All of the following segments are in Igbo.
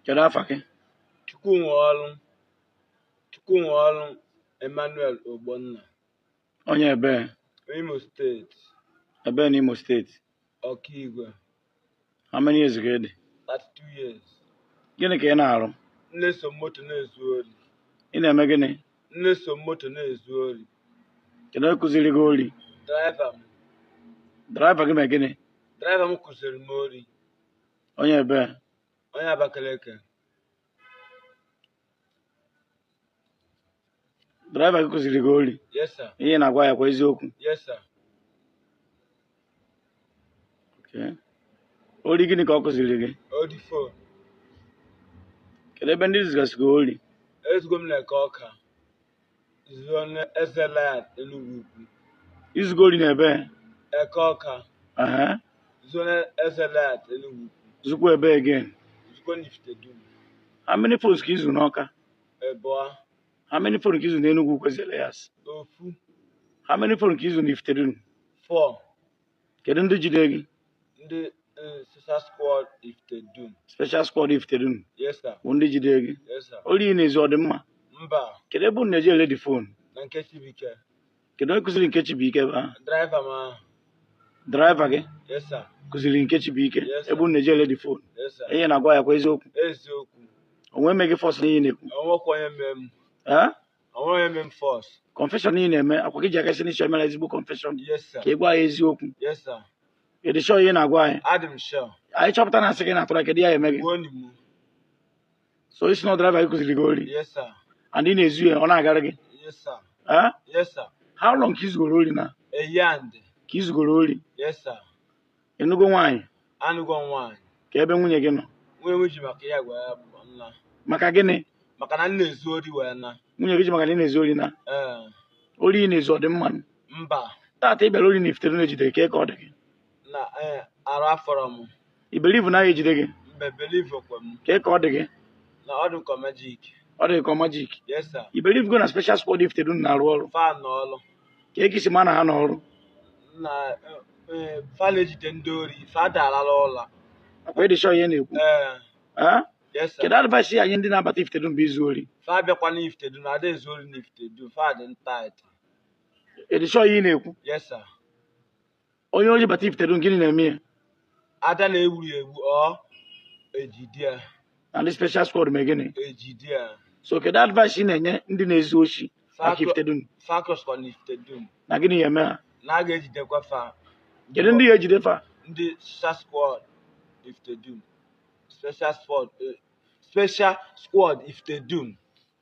kedu afa gị Chukwunwe ọrụ Chukwunwe ọrụ Emmanuel Ogbonna onye ebee Imo steeti ebee na Imo steeti Okigwe how many years ka ị dị 32 years gịnị ka ị na-arụ m na-eso moto na-ezu ori ị na-eme gịnị m na-eso moto na-ezu ori kedu onye kụziri gị ori draiva m draiva gị mee gịnị draiva m kụziri m ori Onye ebee? Onye Abakaliki. Draiva gị kụziri gị ori. Yes, sir. Ihe ị na-agwa anyị akwa eziokwu. Yes, sir. Okay. Ori gịnị ka ọ kụziri gị? Ori fon. Kedu ebe ndị i zugasịgo ori? Ezugo m n'Eke Ọka. Zuo n'Ezi Elias Enugu Ukwu. I zugo ori na ebee Eke Ọka. aha Zuo n'Ezi Elias Enugu Ukwu. zukwa ebee again Zuo n'Ifitedunu. how many phones ka i zu n'Ọka Ịbụa. how many phone ka i zu n'Enugwu Ukwu Ezi Elias Ofu. how many phone ka i zu n'Ifitedunu Four. kedu ndị jide gị ndị eh, special squad Ifitedunu special squad Ifitedunu yes sir bụ ndị jide gị yes sir ori ị na-ezu ọ dị mma mba kedu ebe unu na-eje ere the phone na nke Chibuike kedu onye kụziri nke Chibuike ebe ahụ draiva m ahụ draiva gị yes sir kụziri nke Chibuike Yes, sir. ebe unu na-eje ere the phone yes sir ihe ị na-agwa anyị akwa eziokwu eziokwu o nwe onye mee gị force n'ihe ị na-ekwu enwekwa onye mee m Eh? O nweghị onye mee m force. Confession ị na-eme akwa gị ji aka si n'isi emere ezigbo confession Yes sir. ka ị gwa anyị eziokwu Yes sir. ị dị sure ihe ị na-agwa anyị Adị m sure. anyị chọpụta na asị ka ị na-atụrụ anyị kedu ihe a ya-eme gị Gbuonu mu. so ị sị na driver gị kụziri gị ori Yes sir. and ị na-ezu ya ọ na-agara gị Yes sir. Eh? Yes sir. how long ka i zugoro ori now A year. ka i zugoro ori Yes sir. ị nụgo nwaanyị anụgo m nwaanyị kee ebe nwunye gị nọ nwunye m ji maka ya wee gbanaa maka gịnị maka na m na-ezu ori wee naa nwunye gị ji maka na ị na-ezu ori naa ee ori ị na-ezu ọ dị mma mba taata ị bịara ori na Ifitedunu ejide gị kee ka ọ dị gị na ee arụ afọrọ m ị believe na a ya-ejide gị mba believe kwe m kee ka ọ dị gị na ọ dị m ka majik ọ dị gị ka majik yes sir ị believe go na special squad Ifitedunu na-arụ ọrụ fa na ọlụ kee ka i si ma na ha n'ọrụ na eh, fa na-ejide ndị ori fa adarọ ala ụla akwa ị dị sure ihe ị na-ekwu ee Ah? yes sir. kedu advice ị ya-enye ndị na-abata Ifitedunu bịa izu ori fa abịakwana Ifitedunu na ada ezu ori n'Ifitedunu fa dị tight ị dị sure ihe ị na-ekwu yes sir onye oshi bata ifitedunu gịnị na-eme ya a da na-egbu ya egbu ọ ejide ya na ndị special squad mee gịnị ejide ya so kedu advice ị na-enye ndị na-ezu oshi maka ifitedunu fa kwụsịkwa na ifitedunu na gịnị ya-eme ha na a ga-ejidekwa fa kedu ndị ya-ejide fa ndị special squad ifitedunu special squad eh, special squad ifitedunu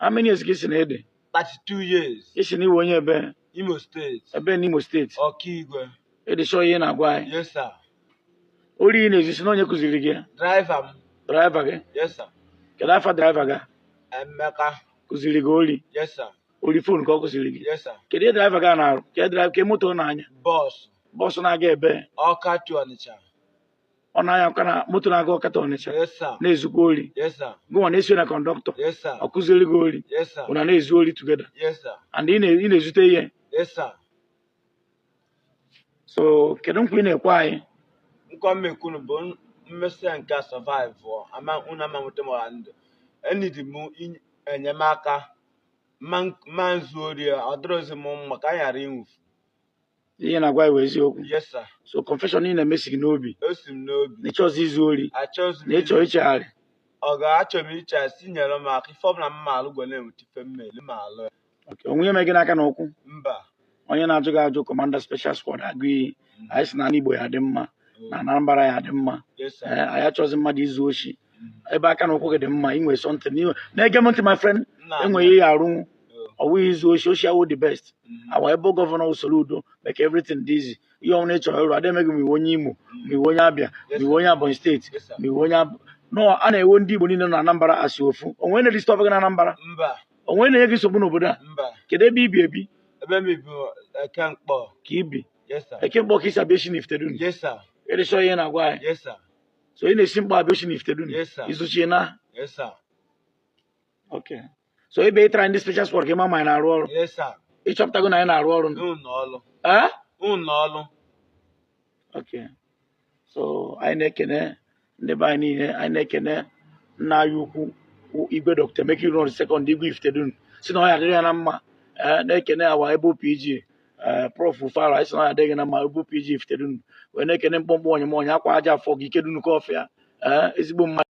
How many years ka ị sị na ị dị? 32 years. Ị sị na ị wụ onye ebee? Imo steeti. Ebee n'Imo steeti? Okigwe. Ị dị sure ihe ị na-agwa anyị? Yes sir. Ori ị na-ezu ị sị na onye kụziri gị ya? Draiva m. Draiva gị? Yes sir. Kedu afa draiva gị? Emeka. Kụziri gị ori? Yes sir. Ori fon ka ọ kụziri gị? Yes sir. Kedu ihe draiva gị na-arụ? Kedu draiva ka moto na-anya? Bọọsụ. Bọọsụ na-aga ebee? Ọka to Ọnịcha. ọ na-anya ka na moto na-aga ọka to ọnịcha na-ezukwa ori gụnwa na-esi na kọndọktọ ọ kụziri gị ori unu na-ezu ori together and ị na-ezute ihe so kedu nkwa ị na-ekwe anyị nkwa m na-ekwe unu bụ m si na nke a survive ama unu ama nweta m ọha ndụ enidi m enyemaka ma izu ori ọ dịrọzi m mma ka anyị ghara ịnwụfu ihe ị na-agwa anyị bụ eziokwu yes sir so confession ị na-eme si gị n'obi o si m n'obi na ị chọzi izu ori achọzi m na ị chọ ichegharị ọ ga-achọ m iche si nyere m aka ife ọbụla m ma-alụ ka m na-enweta ife m ma-eli m ma-alụ ya Okay, o nwe ihe mere gị n'aka na ụkwụ mba onye na-ajụ gị ajụ kọmanda special squad agụ iyi anyị sị na ana igbo ya-adị mma na anambra ya-adị mma yes sir ee anyị achọzi mmadụ izu oshi ebe aka na ụkwụ gị dị mma ị nwere something n'iwe na-ege m ntị my friend Nna. enweghị ihe arụ ọ wụ izu oshi oshi awụ the best Mm. our able gọvanọ soludo make everything dị easy ihe ọbụla ị chọrọ ịrụ a da emeghị ma ị wụ onye imo ma ị wụ onye abịa ma ị wụ onye ebonyi steeti Yes, sir. ma ị wụ onye Ab- no a na-ewe ndị igbo niile na anambra as ofu o nwe onye na-disturb gị na anambra mba o nwe onye na-enye gị nsogbu n'obodo a mba kedu ebe i bi ebi ebe m bụ eke nkpọ ka i bi yes sir eke nkpọ ka i si abịa oshi na ifitedunu yes sir ị dị sure ihe ị na-agwa anyị yes sir so ị na-esi nkpọ abịa oshi na ifitedunu Yes, sir. izu oshi na Yes, sir. okay so ebe ị tara ndị special squad ka ị ma na anyị na-arụ ọrụ Yes, sir. ị chọpụtago na anyị na-arụ ọrụ nụ. Ụlọ ọrụ. Eh? Ụlọ ọrụ. okay so anyị na-ekene ndị be anyị niile anyị na-ekene nna anyị ukwu bụ igwe dọkịta emeka ilouno second igwe ifitedunu sị na ọ ya-adịrị ya na mma ee na-ekene our able pg ee prof fara anyị sị na adị gị na mma bụ pg ifitedunu wee na-ekene mkpọmkpọ onye m onye akwa aja afọ gị ike dunukofia ee ezigbo mmadụ